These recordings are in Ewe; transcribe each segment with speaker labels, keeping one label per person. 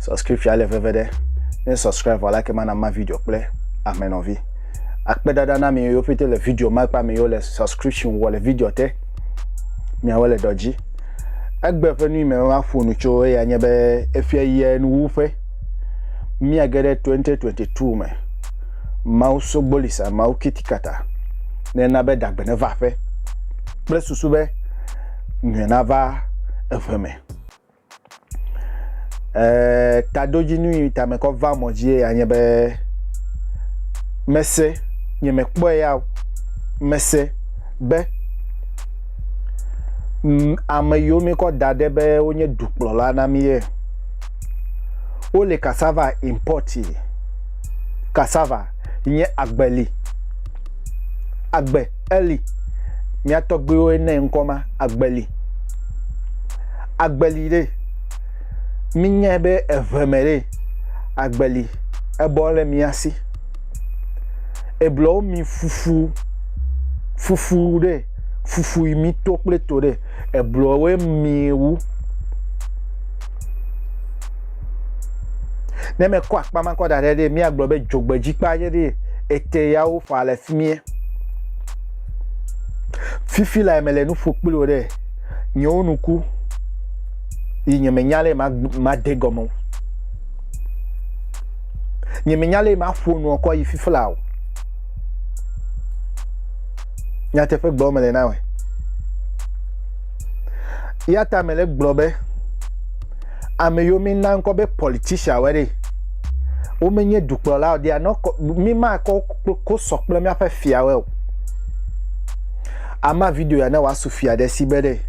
Speaker 1: Subscription le veve ɖe. Ne subscribe vɔ like mana ma video kple ame nɔvi. Akpe dada na mi yo pete le video ma kpa mi yo le subscription wɔ le video te. Miawo le dɔdzi. Egbe ƒe nui me ma ƒo nu tso eya nye be efia yɛ nu wu ƒe. Mia ge ɖe 2022 me. Mawu sogbolisa mawu kitikata. Ne na be dagbe ne va ƒe. Kple susu be nyuie na va eƒe me. Eee tadodzinu yi ta mekɔ va mɔ dzie ya nye be mese nye mekpɔe ya o mese be mm, ame yiwo mikɔ da ɖe be wonye dukplɔla na mi ye wole cassava import yi cassava nye agbeli agbe Eli, mía tɔgbuiwoe nɛ ŋkɔ ma, Agbeli. Agbeli ɖe, minyae be eve me ɖe, Agbeli, ebɔ ɖe mía si. Eblewo mi fufu, fufu ɖe, fufu yi mi to kple to ɖe, eblewoe mi wu. Ne mekɔ akpa ma kɔ da ɖe ɖe, míagblɔ be dzogbedzikpe aɖe ɖe ete yawo fa le fi mie. Fifi lae mele nu ƒo kpli wò ɖe, nyewo nu ku yi nye menya lɛ ma ma de gɔme o. Nye menya lɛ ma ƒo nuɔ kɔ yi fifi la o. Nyateƒe gblɔ mele na wɔ. Yata mele gblɔ be. ame yiwo mína ŋkɔ be politicianwoe ɖe. Womenye dukplɔlawo, they are not, mímakɔ kosɔ kple míaƒe fiawoe o. Ama video ya ne wòasu fia ɖe si be ɖe.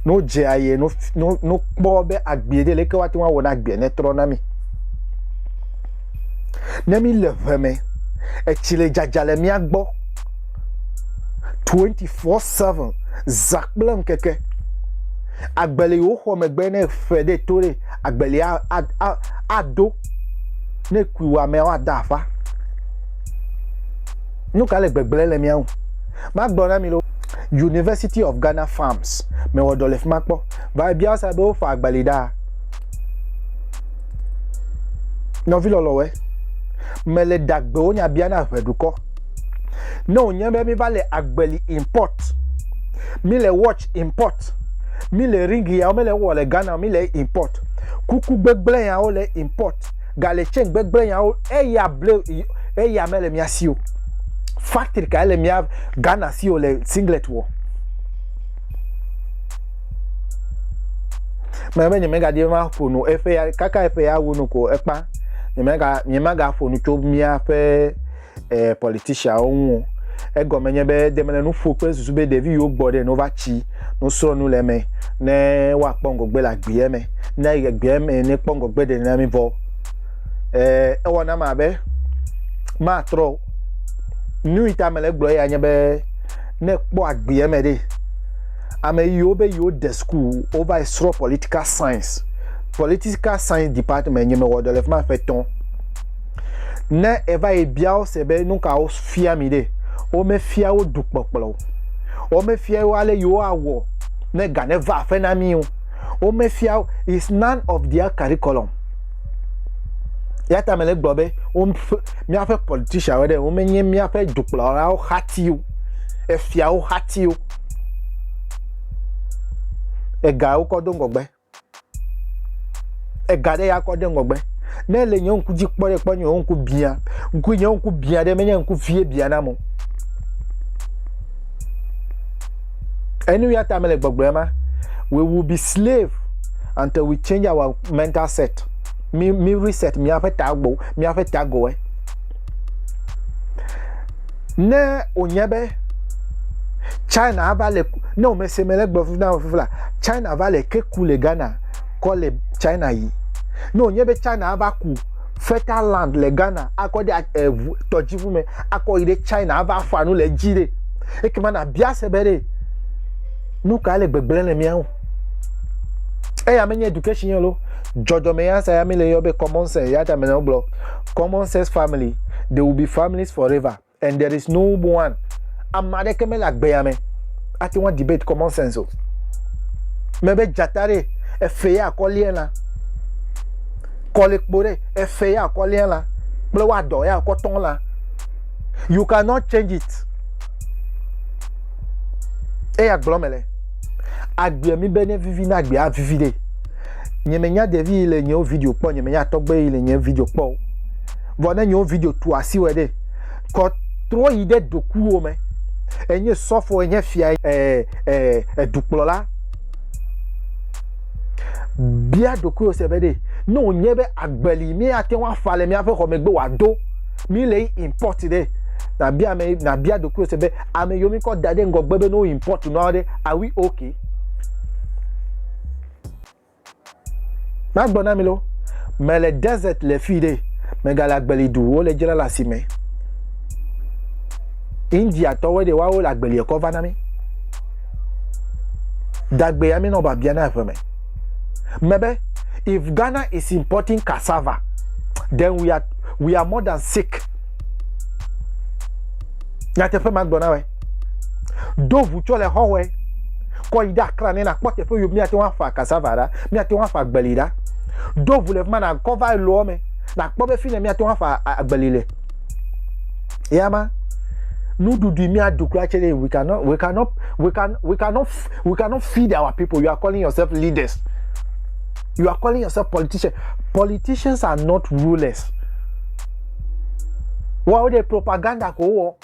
Speaker 1: Ne wodze aye, ne wokpɔ be agbee ɖe, leke woate ŋu awɔ na agbea ne trɔ na mí. Ne míle ʋe me, etsi le dzadza le mía gbɔ, 24/7, zã kple ŋkeke. Agbeli yi woxɔ megbe ne fe ɖe to ɖe agbeli ado ne kui wɔ amea woada afa. Nu ka le gbegblẽ le mía ŋu? Magblɔ na mi ɖo University of Ghana Farms mewɔ dɔ le fi ma kpɔ. Va ebia wo sa be wofa agbeli ɖaa. Nɔvi lɔlɔwɔe, mele ɖagbewo nya bia na ʋeɖukɔ. Ne wònye be míva le agbeli import, míle watch import, míle ring yawo míle wowɔ le Ghana, míle import, kuku gbegblẽ yawo le import, gale chain gbegblẽ yawo, eya ble eya mele mía si o. Factory kae le mía Ghana si o le singlet wɔ? Mɛ be nyemegadi be maƒo nu eƒe ya kaka eƒe ya wu nu ko ekpa nyemega nyemagaƒo nu tso míaƒe eh, politiciawo ŋu o. Egɔme nye be de mele nu ƒo kple susu be ɖevi yiwo gbɔ ɖe ne wova tsi nusrɔ̃ nu le eme ne woakpɔ ŋgɔgbe le agbeɛ me. Ne ayi agbeɛ me ne kpɔ ŋgɔgbe ɖe nenami vɔ eh, ewɔ nam abe matrɔ o. Nu yi ta mele gblɔ ya nye be ne kpɔ agbeɛ me ɖe ame yiwo be yiwo de school wova yi srɔ̃ political science political science department nye mewɔ dɔ le fi ma ƒe etɔ̃ Ne èva yi bia wo se be nu ka wofia mi ɖe, womefia wo dukplɔkplɔ o. Womefia wo ale yi woawɔ ne ga neva aƒe na mi o. Womefia wo, it's none of their curriculum. Eya ta mele gblɔ be woƒe míaƒe politicianwo ɖe womenye míaƒe dukplɔlawo xati o, efiawo xati o. Ega wokɔ do ŋgɔgbe. ega ɖe ya kɔ ɖe ŋgɔgbe ne ele nye ŋku dzi kpɔ ɖe kpɔ nye ŋku bia ŋku nye ŋku bia ɖe menye ŋku vie bia na mo enu ya ta mele gbɔgblɔ ma we will be slave until we change our mental set mi mi reset miaƒe tago miaƒe tagoe Ne wònye be China ava le ne wòmese me le gblɔ fufu na fufu la, China va le ke ku le Ghana kɔ le China yi. Ne wònye be China ava ku fertile land le Ghana akɔ ɖe eŋu tɔdziŋu me akɔ yi ɖe China ava ƒa nu le edzi ɖe, ekema nabia se be ɖe nu ka le gbegblẽ le mía ŋu. Eya menye education ye lo, dzɔdzɔme ya sa ya mele yɔ be common sense ya ta mele gblɔ common sex family they will be families forever and there is no one ame aɖeke mele agbea me ate ŋu debate common sense o mebe dzata ɖe efe ya akɔlia la kɔlikpo ɖe efe ya akɔlia la kple woadɔ ya akɔtɔ la you cannot change it eya gblɔ me le agbea mi be ne vivi na agbea vivi ɖe nye me nya ɖevi yi le nyewo video kpɔ nye me nya tɔgbe yi le nye video kpɔ o vɔ ne nyewo video tu asi wɔ ɖe kɔ trɔ yi ɖe dokuwo me enye sɔfo enye fia eh, eh, edukplɔla bia dokuwo se be ɖe ne wònye be agbeli mi ate ŋu afa le miaƒe xɔ megbe wòado mi le import ɖe nabia ame nabia dokuwo se be ame yiwo mi kɔ da ɖe ŋgɔgbe be ne wo import nua ɖe awi okay Magblɔ na mi lo, mele desert le fi ɖe, megale agbeli du, wole dzra le asime. India tɔwoe ɖe woawo le agbeli ekɔ va na mi. Dagbe ya mi nɔ babia na eƒe me. Mebe, if Ghana is importing cassava, then we are, we are more than sick. Nyateƒe magblɔ na wɛ. Do ʋu tsɔ le xɔwɔe. Kɔ yi ɖe akra ne nakpɔ teƒe yio míate ŋu afa cassava ɖa, míate ŋu afa agbeli ɖa. Do ʋu le fi ma nakɔ va loa me, nakpɔ be fi ne míate ŋu afa agbeli le. Eya ma. Nuɖuɖui míaɖu kura tse ɖe we cannot we cannot we can we cannot we cannot feed our people. You are calling yourself leaders. You are calling yourself politician. Politicians are not rulers. Wɔwo ɖe propaganda ko wɔ.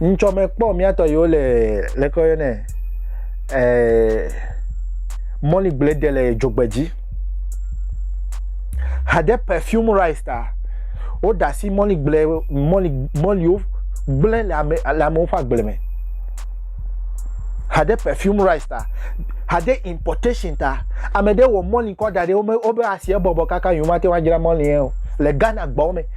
Speaker 1: Ŋtsɔ mekpɔ mìatɔ yewo le leke woyɔnɛ eh, mɔli gblẽ ɖe le dzogbedzi. Hade perfume rice ta. Woɖe asi mɔli gblẽ mɔli mɔliwo gblẽ le ame le amewo ƒe agble me. Hade perfume rice ta. Hade importation ta. Ame ɖe wɔ mɔli kɔ da ɖe wobe asiɛ bɔbɔ kaka yewo mate ŋu adzra mɔli yɛ o le Ghana gbawo me.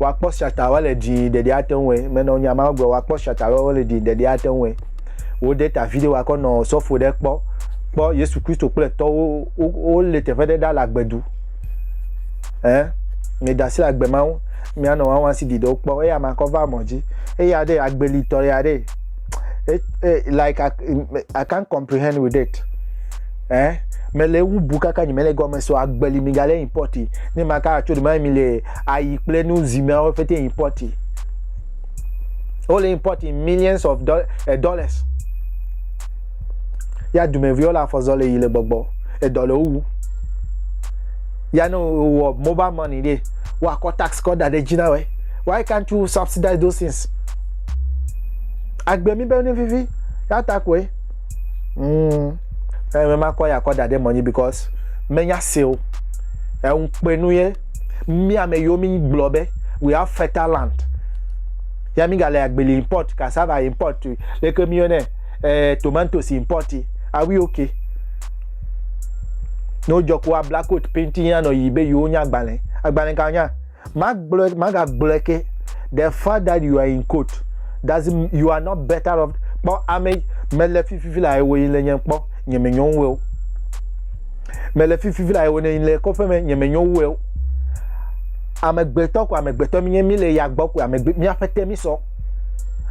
Speaker 1: Wakpɔ siata ɔe le dii ɖeɖi ate ŋu ɔe. Me nɔ nya ma gblɔ wakpɔ siata ɔe le dii ɖeɖi ate ŋu ɔe. Wo de ta video wakɔ nɔ osɔfo ɖe kpɔ kpɔ Yesu Kristo kple etɔ wo wo wo le teƒe ɖe ɖa le agbe du. Ɛ me da si le agbe ma ŋu mia nɔ wawa si di ɖewo kpɔ eya ma kɔ va mɔ dzi. Eya ɖe agbe li tɔ ya ɖe. E, e, like I, I can't comprehend with it. Ɛ me le eŋu bu kaka nyi me le gɔme so agbe li mi ga le import. Ni ma ka atso ɖe ma mi le ayi kple nu zimeawo fete impɔti. Wole impɔti millions of eh, dollars. Ya dumeviwo le afɔzɔ le yi le gbɔgbɔ. Edɔ le wowu. Ya ne wowɔ mobile money ɖe, woakɔ tax kɔ da ɖe dzi na wɔ. Why can't you subsidize those things? Agbe mi be ne vivi. Ya ta koe. Mm. Eme makɔ ya kɔ da ɖe mɔnyi because menya se o. Eŋu kpe nu ye. mi ame yiwo mi gblɔ be we have fertile land ya mi gale agbeli import cassava import leke mi yone eh, tomatoes import are we okay ne wodze ko abla coat painting ya nɔ yi be yiwo nya agbalẽ agbalẽ ka nya magblɔ magagblɔ ke the fact that you are in court does you are not better off kpɔ ame mele fififi la ewo yi le nye kpɔ nye me nyɔnwo Mele fifi vla ewo ne le kɔƒe me nye me nyo wu ewo. Ame gbetɔ ko ame gbetɔ mi nye mi le ya gbɔ ko ame gbe mi afete mi sɔ.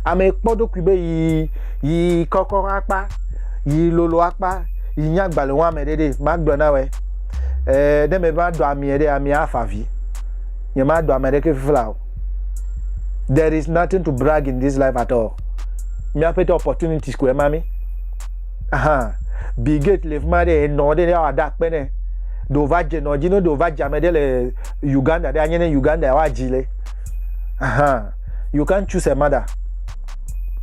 Speaker 1: Ame kpɔ ɖokui be yi yi kɔkɔ akpa yi lolo akpa yi nya gbale wa me ɖeɖe ma gblɔ na we. Eh ne me ba do ami ɖe ami afa vi. Nye ma do ame ɖe ke fifi la o. There is nothing to brag in this life at all. Mi afete opportunities ko ema mi. Ahan. Bill Gates le fi ma ɖe enɔ ɖe ne woada akpe ne. Ɖe wova dze nɔ dzi ne ɖe wova dze ame ɖe le Uganda ɖe anye ne Uganda ya woadzi le. Ahan. You can't choose a mother.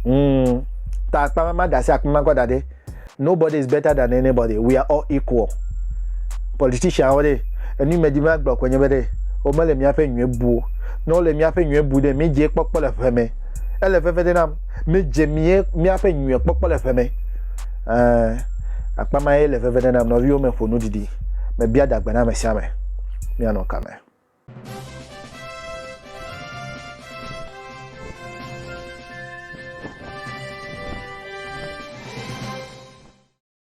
Speaker 1: Mm. Ta akpa ma ma da si akpa ma kɔ da ɖe. Nobody is better than anybody. We are all equal. Politician wo ɖe enu yi me di ma gblɔ ko nye be ɖe womele míaƒe nyuie buo. Ne wole míaƒe nyuie bu ɖe mi dze kpɔkpɔ le ʋe me. Ele veve ɖe nam. Míedze mía, míaƒe nyuie kpɔkpɔ le ʋe me. Ẽ, akpa ma ye le veve ɖe nam. Nɔviwo me ƒo nu didi. Mebia dagbe na ame sia ame. Míanɔ ka me?